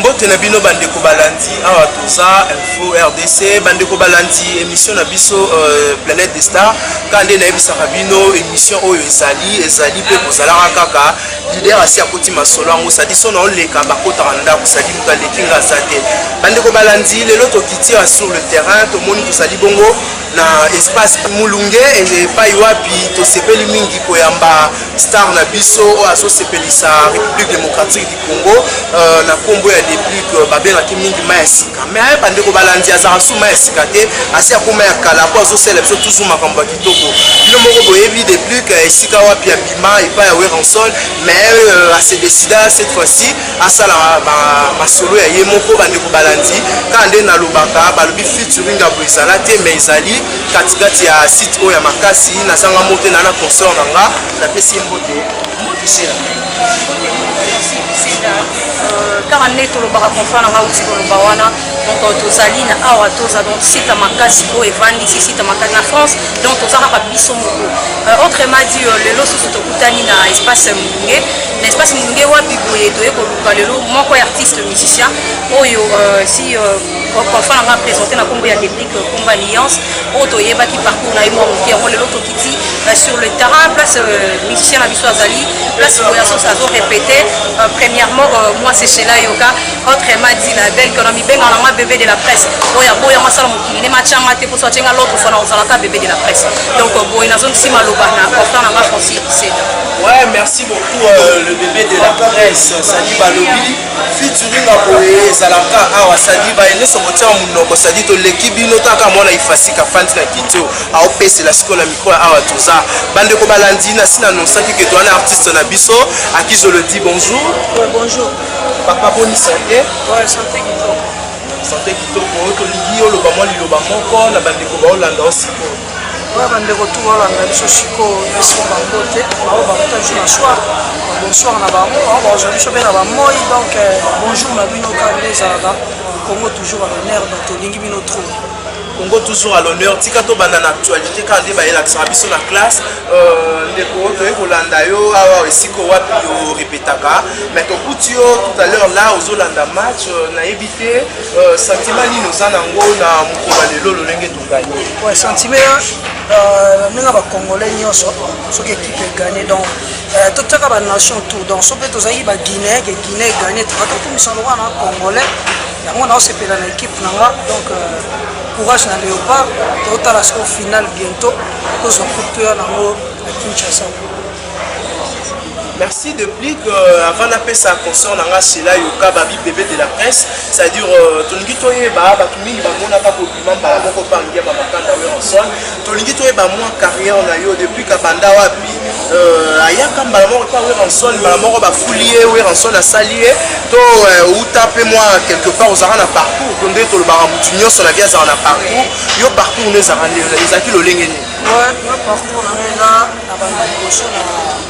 mbote na bino bandeko balandi awa toza info rdc bandeko balandi émission na biso euh, planète de star kaka nde nayebisaka bino émission oyo ezali ezali mpe kozalaka kaka lider asi akoti masolo yango sadi so na oleka bakotaka ndako sadi moto aleki nga aza te bandeko balandi lelo tokiti awa sur le terrain tomoni tozali bongo na espace mulunge epai wapi tosepeli mingi koyamba star na biso oyo azosepelisa république démocratique du congo euh, na nkombo ya deplic euh, babengaki mingi mai ya sika mai aye bandeko balandi azalaka su mai ya sika te asi akoma ya kala mpo azosala biso tuzu makambo ya kitoko bino moko boyebi deplic euh, esika wapi abima epai ya weranson mai asedesida cette fois-ci asala masolo ya ye moko bandeko balandi kaka nde nalobaka balobi featuring ya boezala te mais ezali katikati ya site oyo ya makasi nazanga moko te na na consort na nga napesi ye mbote kaka nde tolobaka confrant na nga uti koloba wana donc euh, tozali na awa toza donc site makasi oyo evandisi site makasi na france donc toza kaka biso moko euh, autrement dit euh, lelo susu tokutani na espace molunge N'est-ce pas Simulunge wapi boye toye koluka lelo moko ya artiste musicien oyo euh, si euh, confond nanga présente na kombo ya déclic euh, kombo alliance oyo toyebaki parcours na ye mwa moke yango lelo tokiti sur le terrain place musicien na biso azali place boyaso azo répété premièrement moi c'est cela yoka autrement dit la belle kona mibenga nanga bébé de la presse oyo aboya masala mokili ne matianga te poso atienga l'autre fois na ozalaka bébé de la presse donc boye nazongisi maloba na portant nanga francis seda ouais merci beaucoup euh, le bébé de la presse sadi balobi featuring ya boye ezalaka awa sadi baye nyonso kotia monoko sadi toleki bino taka mwana ifasika fandi na kitio aopesela sikoyo na mikro ya awa toza bandeko balandi na si nanonsaki ke towana artiste na biso akizolo di bonjour bonjour papa boni sante sante kitoko tolingi oloba mwa liloba moko na bandeko baolanda osikoyo Oyo bandeko tu balanda biso sikoyo na nsima bango te bango bakuta biso na soir bonsoir na bango bango bakozwa biso mpe na bamoi donc euh, bonjour na bino kaka nde ezalaka congo toujours à l'honneur donc tolingi bino trop congo toujours à l'honneur tika tobanda na actualité kaka nde bayelakisaka biso na classe euh, ndeko toyei kolanda yo awa ah, esika wapi orepetaka mais tokuti yo tout à l'heure là ozolanda match euh, nayebi te euh, sentiment nini oza nango na mokolo ya lelo lolenge Ouais, sentiment euh, ndenge ya bacongolais nyonso soki équipe egagne donc euh, totyaka banation tour donc so mpe tozalaki baguinéen ke guinée egagne toka tokumisa lokola na congolais yango naosepela na équipe na nga donc euh, courage na léopard totala soko final bientôt kozwa coupe toya nango na kinshasa merci de plus que euh, avant napesa concert na nga sela yoka babi bebe de la presse c'est à dire euh, tolingi toyeba bato mingi bamonaka Mambala moko pa Ngiama Makanda Werrason, tolingi toyeba mwa carrière na yo depuis kabanda wapi euh, ayaka mbala moko pa Werrason, mbala moko bafuli ye Werrason asali ye to euh, uta mpe mwa quelque part ozalaka na parcours to nde tolobaka motu nyonso na vie azalaka na parcours yo parcours no ezalaka nde ezalaki lolenge nini? Ouais, moi parcours na ngai eza abanda liboso na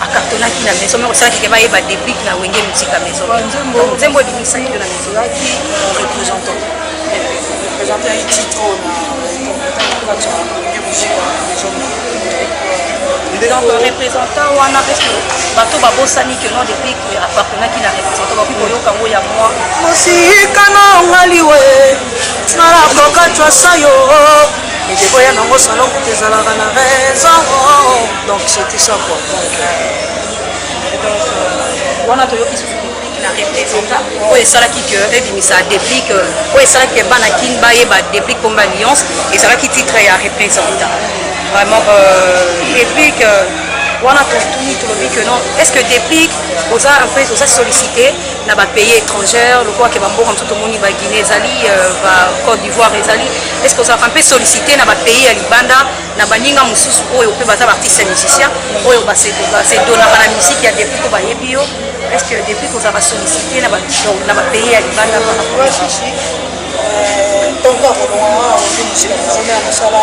akatolaki na maison moko salaki ke bayeba deplic na wenge musique ya maison nzembo ebimisaki yo na maison yaki représentant représentant yaki titre donc représentant wana parce que bato babosani ke non deplic appartenaki na représentant bakoki koyoka yango ya mwa mosika na ngaliwe nalakoka cwasa yo ndeko ya nango salongo ezalaka na raison Donc c'était ça quoi. Donc, euh, donc euh, wana toyoki susu déplique na représenta oyo esalaki que ebimisa déplique oyo esalaki que bana kin bayeba déplique pomba alliance ezalaki titre ya représenta vraiment euh, déplique euh, wana totuni tolobi que non est ce que déplique oza un peu oza sollicité na bapays étrangère lokola ke bamboka mosusu tomoni baguinée ezali euh, bacôte d'ivoire ezali est ce que ozalaka mpe sollicité na bapays ya libanda na baninga mosusu oyo mpe baza baartiste ya musicien oyo basedonaka na musike ya depuis to bayebi yo est ce que depuis kozala basollicité na bapays ya libanda ntongo ya kolonga ondi mosika nazomela nasala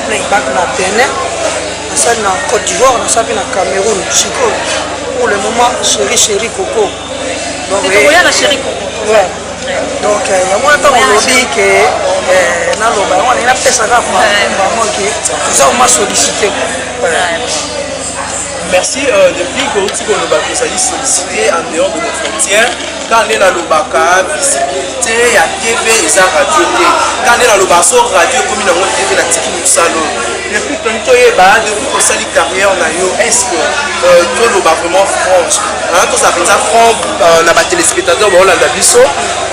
playback na benin nasali na côte d'ivoire nasala mpe na cameroun sikoyo pour le moment chéri chéri coco tokoya na chéri congo donc euh, yango wana ntango olobi ke euh, naloba yango alingi napesa kaka bango ke toza oma sollicité merci euh, depuis kouti koloba tozali sollicité en dehors de nos frontières kaka nde nalobaka visibilité ya tv eza radio te kaka nde nalobaka so radio ekomi nango tv natiki mosalo Depuis que tu es bas, depuis que sali carrière na yo, est-ce que euh, tu le bas vraiment franche hein, Tout ça, tout ça, franc, euh, na bas téléspectateurs, bah, on a biso.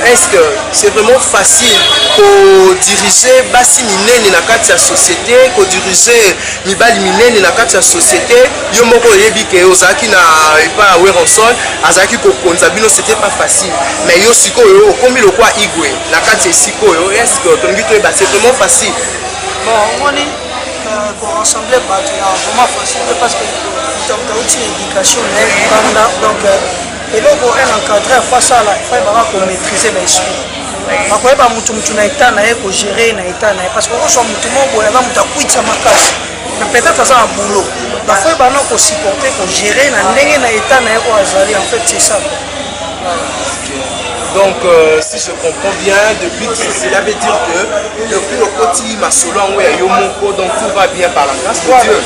Est-ce que c'est vraiment facile pour diriger basi minene na kati ya société, pour diriger mibali minene na kati ya société Yo moko yebi que ozaki na epa Weronson, azaki ko konza bino, c'était pas facile. Mais yo sikoyo, okomi lokwa igwe na kati ya sikoyo, est-ce que tongi to ebase vraiment facile bon omoni euh, koensemble bato ya vraiment facile te parce que moto moto auti na éducation na ye mokanda donc euh, eloko un encadre afa asala efai baka komaîtrise na esprit bakoyeba motu motu na etat na ye kogere na etat na ye parce que okoswa motu moko boye aza moto akwitisa makasi na peut-être aza na boulot bafoye bana kosupporte kogere na ndenge na etat na ye oyo azali en fait c'est ça donc euh, si je comprends bien depuis cela veut dire que depuis okoti masolo yango ya yo moko donc tout va bien par la grâce de dieu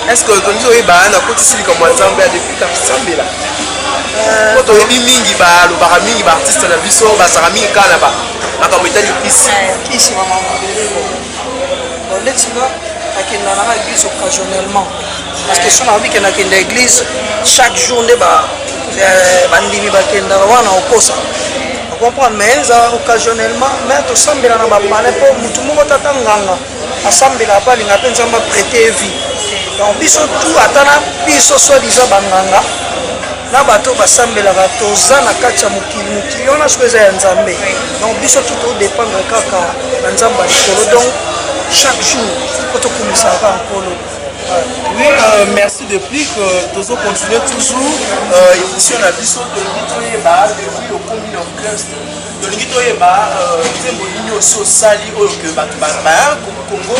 est ce que tolingi toyeba nakotisi likambo ya nzambe ya depuis kasambela euh, po toyebi mingi balobaka mingi baartiste na biso bazalaka mingi kaka na makambo etali kisi ndeti nga akenda nanga église occasionnellement parce que sona obi kenda kenda église chaque jour nde euh, bandimi bakendaka wana okosa comprendre mais eza occasionnellement mais tosambela na bapane mpo motu moko tata nganga asambela apo alinga mpe nzambe aprete vie donc biso tout ata na biso soi disant banganga na bato oyo basambelaka toza na kati ya mokili mokili wana soki eza ya nzambe donc biso tu todépendre kaka na nzambe ya likolo donc chaque jour po tokumisaka kaka nkolo Oui, euh, merci depuis que Tozo continue toujours euh, émission na biso tolingi toyeba depuis okomi na orchestre tolingi toyeba nzembo nini osi osali oyo ke bato bayaka congo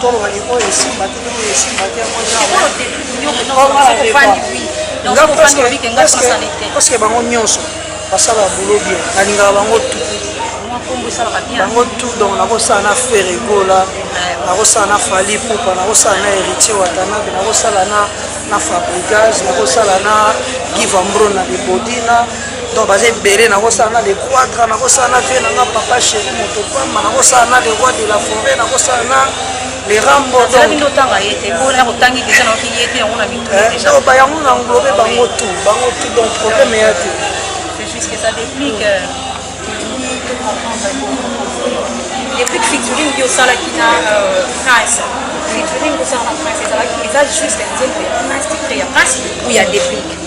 toloba ye oyo esimba te oyo esimba te yango nyaoparceke bango nyonso basalaka bulo bien nalingaka bango tu bango tu donc nakosala na feregola nakosala na fali pupa nakosala na héritier watanabe nakosala na na fabrigage nakosala na givambro na libodina donc baza ebele nakosala na lequadra nakosala na vie nanga papa chéri moto pamba nakosala na le roi de la forêt nakosala na lerambo bayango na englobe bango tout bango tout donc problème eya te depuis featuring yo osalaki na prince featuring osalaka prince ezalaki eza juste nzembo ya prince titre ya prince ou ya déplique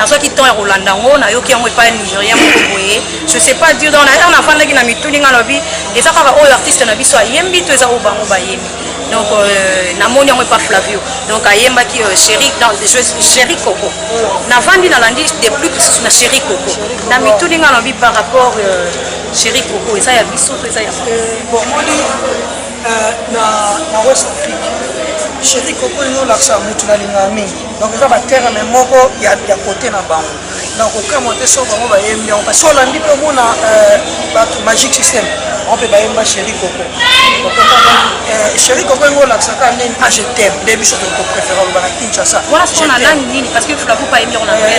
nazwaki temps ya kolanda yango nayoki yango epai ya nigérien moko boye je sais pas dire donc naer nafandaki na mituni ngai nalobi eza kaka oyo artiste na biso ayembi to eza oyo bango bayembi donc euh, namoni yango epa flavio donc ayembaki euh, chéri chéri coco navandi nalandi de plus lisusu na chéri coco na mituni ngai nalobi par rapport euh, chéri coco eza ya biso to eza ya bomoni na west afrique chéri coco ezo olakisa motu nalingaka mingi donc eza baterme moko ya kote na bango na kokamwa te soko bango bayembi yango parce olandi mpe omona euh, bato magic system bango mpe bayemba chéri koko euh, chéri koko yango olakisaka nini ah je t'aime nde biso tokopréfère oloba na kinshasa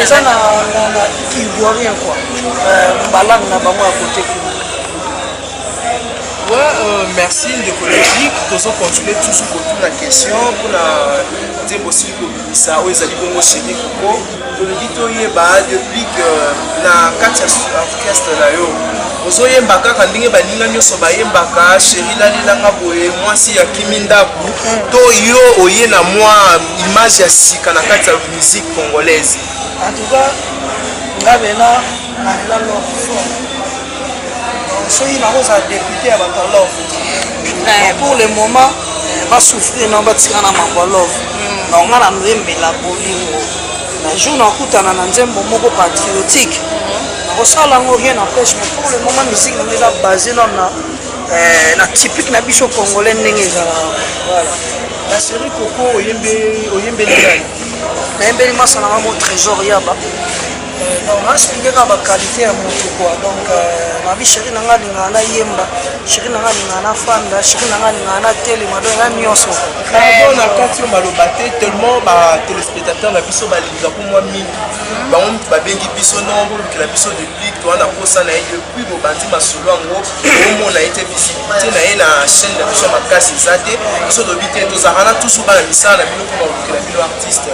eza na kilborien kua balangue na bango ya kote kuna Ouais, euh, merci ndeko logique tozo continuer toujours kotuna question mpona nzembo osili kobimisa oyo ezali bongo cheni koko tolobi toyeba depuis que na kati ya orchestre na yo ozoyemba kaka ndenge baninga nyonso bayembaka sheri nalelanga boye mwasi ya kimi ndako to yo oye na mwa image ya sika na kati ya musique congolaise en tout cas nga bena nalela loko fort soki nakozala depute ya bato ya love eh, pour le moment eh, basouffrir na batika na mambo ya love hmm. nonga na nzembela bolingo na jour nakutana na nzembo moko patriotique hmm. nakosala yango rien empêche mais pour le moment musique nango eza basé na eh, na typique na biso congolais ndenge ezalaka voilà la série koko oyembeli ngai nayembeli masana mamo trésor yaba Euh, donc na explique kaka ba qualité ya moto quoi donc euh, nabi chéri na ngai alingaka na yemba chéri na ngai alingaka na fanda chéri na ngai alingaka na telema donc na nyonso pardon na kati yo maloba te tellement ba téléspectateur na biso balingaka ko mwa mingi mhm. bango moto babengi biso non bolukela biso de plic toa na posa na ye depuis bobandi masolo yango omona ye te visibilité na ye na chaîne na biso makasi eza te biso tobi te tozalaka na tusu bana misala na bino mpo balukela bino artiste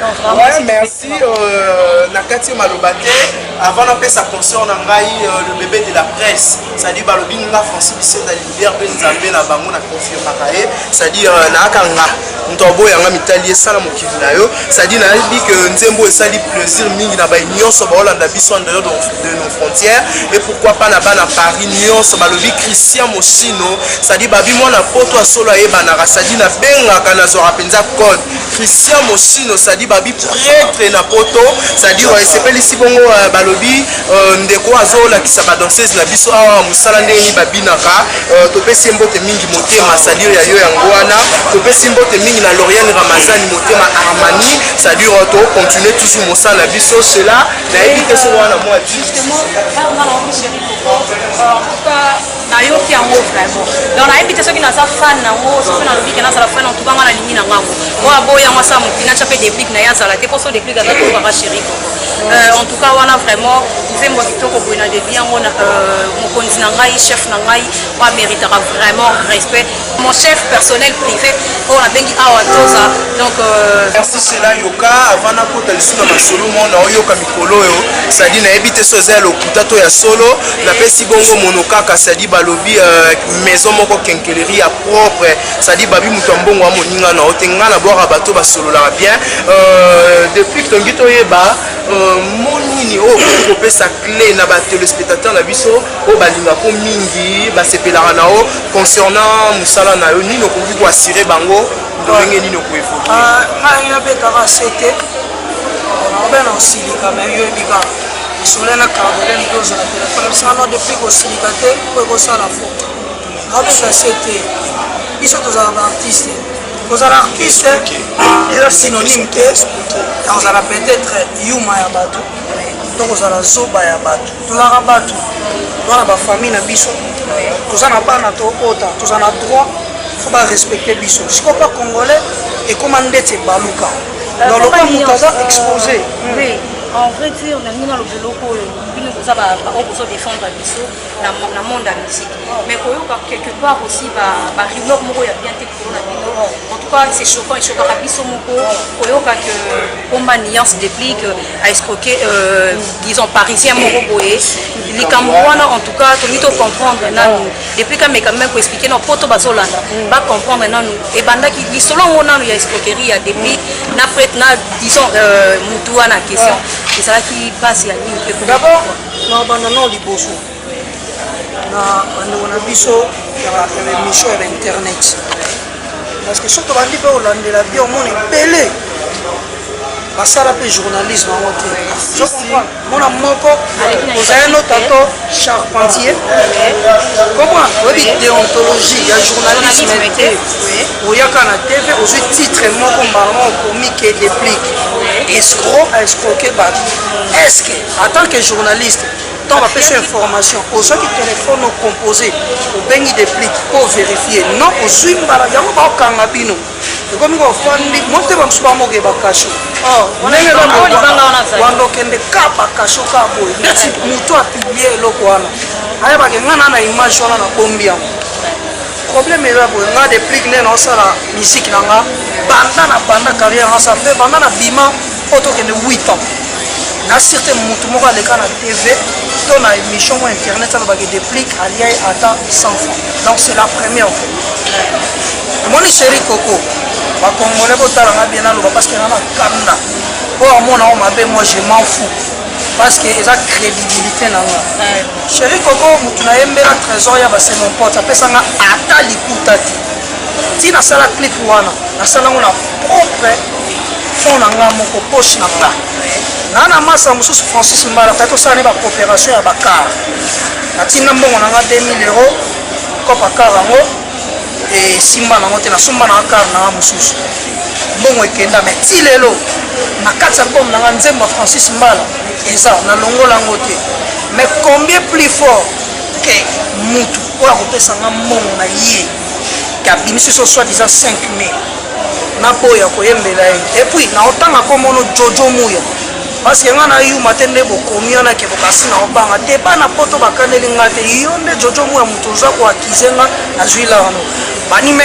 Ouais, merci euh, na kati yo maloba te avant napesa concert na ngai euh, le bébé de la presse cestadire balobi nga français bisenda libert mpe nzambe na bango na confirmaka ye cestadire euh, nayaka nga moto aboya nga mitali esala mokili na yo cestadire nayebi ke nzembo esali plaisir mingi na bai nyonso baolanda biso en dehors de nos frontières et pourquoi pas na bana paris nyonso balobi christian mosino cestadire babi mwana poto asolo ayebanaka cestadire nabengaka nazwaka mpenza code Christian Moschino sadi babi pretre na poto sadi euh, esepelisi bongo euh, balobi euh, ndeko azolakisa ba danseuse na biso awa mosala ndenge nini babinaka topesi mbote mingi motema sadi ya yo yango wana topesi mbote mingi na Lauriane Ramazani motema Armani sadi to continue toujours mosala na biso cela nayebi te soko wana mwa nayoki yango vraiment donc nayebi te soki naza fan nango soki nalobi ke nazala fan antuka nga nalingi na ngango oyo aboyi yango asala moki natya mpe deplic na ye azala te mposo deplic aza tokaka chéri koko euh, en tout cas wana vraiment nzembo ya kitoko boye na debi yango euh, mokonzi na ngai chef na ngai oyo ameritaka vraiment respect mon chef personnel privé oyo nabengi awa toza donc euh, merci sela yoka avant nakota lisusu na masolo mo na oyoka mikolo oyo sadi nayebi te so eza ya lokuta to ya solo napesi bongo mono kaka sadi balobi euh, maison moko kenkeleri ya propre sadi babi moto ya mbongo ya moninga na yo te ngai nabwaka bato basololaka bien euh, depuis tongi toyeba mo nini oyo okoki kopesa cle na batelespectateur na biso oyo balinga ko mingi basepelaka na yo concernant mosala na yo nini okoki koassure bango ndenge nini okoevolue ah, ngai nabetaka sete obe na osilika me yo ebika osole na carbone mpe ozala telefone osana depuis kosilika te mpo ekosala fo abeta sete biso tozala baartiste kozala artiste eza synonyme te ya kozala peut-être yuma ya bato to kozala zoba ya bato tozalaka bato toza na bafamille na biso toza na bana tokota toza na droit fo barespecte biso sikoyo mpa congolais ekóma ndeti ebaluka euh, dans lokola moto aza euh, expose en vrai dire nalingi naloba eloko oyo bino boza baoyo bozo défendre biso na monde ya musique mais koyoka quelque part aussi barumeur moko ya bien te likolo na bino en tout cas c'est choquant echokaka biso moko koyoka que pomba nuance déplique a escroquer euh, disons parisien moko boye likambo wana en tout cas tolingi tocomprendre nanu depuis kameka meme koexplike na poto bazolanda bacomprendre nanu ebandaki lisolo yango nanu ya escroquerie ya depuis na prete na disons euh, mutu wana question ezalaki base ya nini dabord na banda nao liboso na bandeko na biso ya baemission ya bainternet parce que soki tobandi mpe kolandela bi omona ebele basala mpe journalisme yango te mona moko ozali no tato charpentier koma oyebi deontologie ya journalisme te oyaka na tv ozwi titre moko mbala moko okomi ke deplique escro a escroke bato est ce que en tant que journaliste ntango bapesi information ozwaki telefone ocompose obengi deplic mpo overifie non ozwi mbala yango baokanga bino ekomi kofandi motema mosusu bamoke bakasho oh, ndenge wanda okende ka bakasho ka boye ndeti moto apiblie eloko wana ayebake ngai na na image wana na bombi yango problème eza boye ngai deplic nde naosala miziki na ngai banda na banda carrière nasa mpe banda na bima oyo tokende 8 ans na surte motu moko aleka na tv to na émission mwa internet alobaki déplique alia ye ata 100 francs donc c'est la première fois omoni chéri koko bakongole botala nga bien naloba parce que nga na kamna mpo amona o mabe moi je m'en fou parce que eza crédibilité na nga chéri koko motu nayembela trésor ya base mon pote apesa nga ata likuta te ti nasala clip wana nasala yango na propre fond na ngai moko poche na nga naa na masa mosusu francis mbala kati tosala ne bacoopération ya bakar natinda mbongo na nga 2000 euro kopa kar yango esimba nango te nasomba na kar na nga mosusu mbongo ekenda me ti lelo na kati ya bome na nga nzembo ya francis mbala eza nalongola yango te mais combien plus fort ke mutu oyo akopesa nga mbongo na ye kabimisi so soit disant 5 mai naboya koyembela ye epuis naotanga komono jojo muya parce que nga na yuma te nde bokomi wana ke bokasi na obanga te bana poto bakaneli nga te yo nde jojo muya moto oza koakize nga nazwi la yango banime